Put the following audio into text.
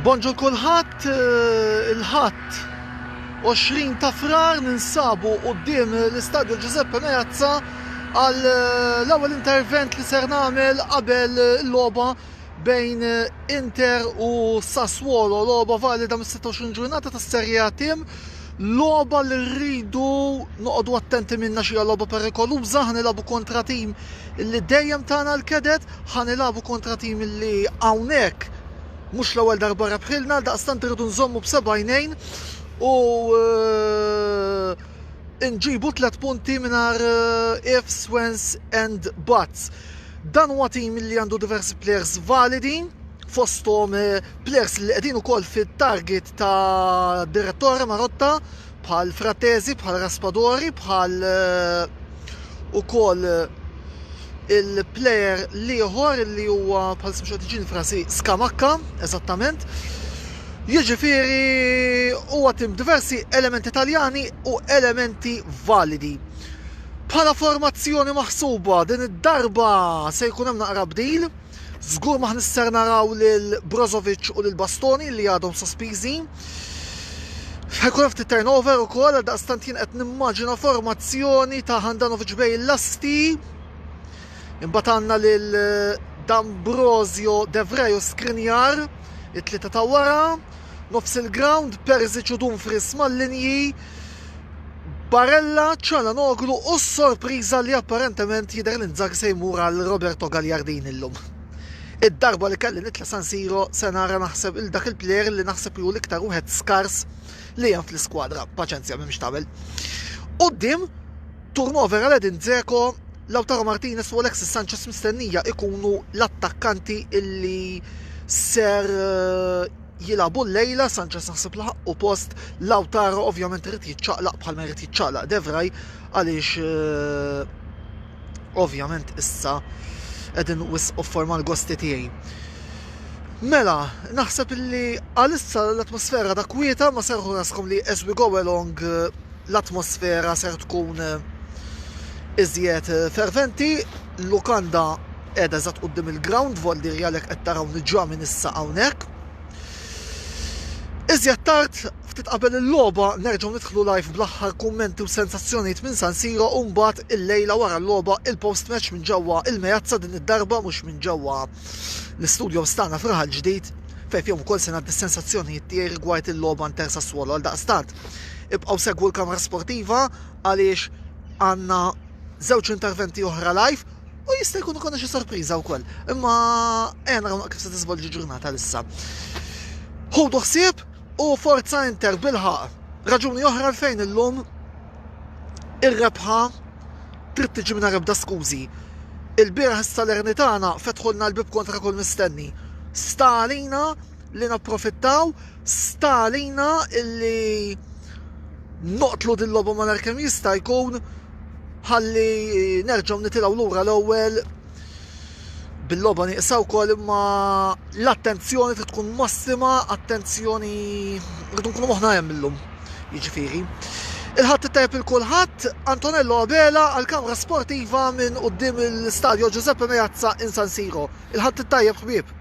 Bonġur kulħadd eh, il-ħadd 20 ta' frar ninsabu quddiem l-Istadju Giuseppe Meazza għal eh, l-ewwel intervent li ser nagħmel qabel il-logħba bejn Inter u Sassuolo, logħba valida mis-26 ġurnata tas-Serie A tim, logħba li rridu noqogħdu attenti minna xi logħba perikoluża, ħanilabu kontra tim li dejjem tagħna l-kedet, ħanilabu kontra tim li hawnhekk mhux l-ewwel darba rebħilna, għaldaqstant irridu nżommu b'seba' għajnejn u Inġibu tliet punti mingħajr ifs, wens and buts. Dan huwa tim li għandu diversi plejers validi, fosthom plejers li qegħdin ukoll fit-target ta' Direttore Marotta bħal Frattesi, bħal Raspadori, bħal ukoll il-plejer l-ieħor li huwa bħalissa mhux qed iġini f'rasi Scamacca eżattament. Jiġifieri huwa tim diversi elementi Taljani u elementi validi. Bħala formazzjoni maħsuba din id-darba se jkun hemm naqra bdil. Żgur ma ħnister naraw lil Brozovic u lil Bastoni li għadhom sospiżi. Ħajkun hemm ftit turnover ukoll għal daqstant jien qed nimmaġina formazzjoni ta' Handanovic bej l-asti. Imbagħad għandna lil D'Ambrosio, Devrej u Skrinjar, it-tlieta ta' wara. Nofs il-ground, Perzic u Dumfries mal-linji, Barella, Calhanoglu u s-sorpriża li apparentement jidher li Inzaghi se jmur għal Roberto Gagliardini llum. Id-darba li kelli nitla' San Siro se nara naħseb 'il dak il-plejer li naħseb li hu l-iktar wieħed skars li hemm fl-iskwadra, paċenzja m'hemm x'tagħmel. Quddiem, turnover għal Edin Dzeko, Lautaro Martinez u Alexis Sanchez mistennija ikunu l-attakkanti illi ser eh, jilagħbu llejla, Sanchez naħseb li ħaqqu post, Lautaro ovvjament irid jiċċaqlaq bħalma jrid jiċċaqlaq De Vrij għaliex eh, ovvjament issa qegħdin wisqu forma l-gosti tiegħi. Mela, naħseb li għalissa l-atmosfera da kwieta ma serħu raskom li as we go along eh, l-atmosfera ser tkun eh, iżjed ferventi l-lukanda qiegħda eżatt quddiem il-grawnd, vvoldirja għalhekk qed tarawni ġa minn issa hawnhekk. Iżjed tard, ftit qabel il-logħba, nerġgħu nidħlu live bl-aħħar kummenti u sensazzjonijiet minn San Siro u mbagħad illejla wara l-logħba il-post match minn ġewwa il-Meazza din id-darba mhux minn ġewwa l-istudios tagħna f'Raħal Ġdid fejn fihom ukoll se ngħaddi s-sensazzjonijiet tiegħi rigward il-logħba Inter Sassuolo għaldaqstant ibqgħu segwu l-kamra sportiva għaliex għandna Żewġ interventi oħra live u jista' jkun ikonna xi sorpriża wkoll. Imma ejja naraw kif se tiżvolġi ġurnata lissa. Ħudu ħsieb u forza Inter bilħaq. Raġuni oħra fejn illum ir-rebħa trid tiġi minn ebda skużi. Il-bieraħ is-Salernitana fetħulna l-bib kontra kull mistenni. Sta għalina li napprofittaw Sta għalina illi noqtlu din logħba malar kemm jista' jkun ħalli nerġgħu nitilgħu lura l-ewwel bil-loba nieqsa wkoll imma l-attenzjoni trid tkun massima, attenzjoni rridu nkunu moħna hemm illum. Jiġifieri. Il-ħadd tajb il-kulħadd, Antonello Abela għal kamra sportiva minn qudiem il-Stadio Giuseppe Meazza in San Siro. Il-ħadd tajjeb ħbieb.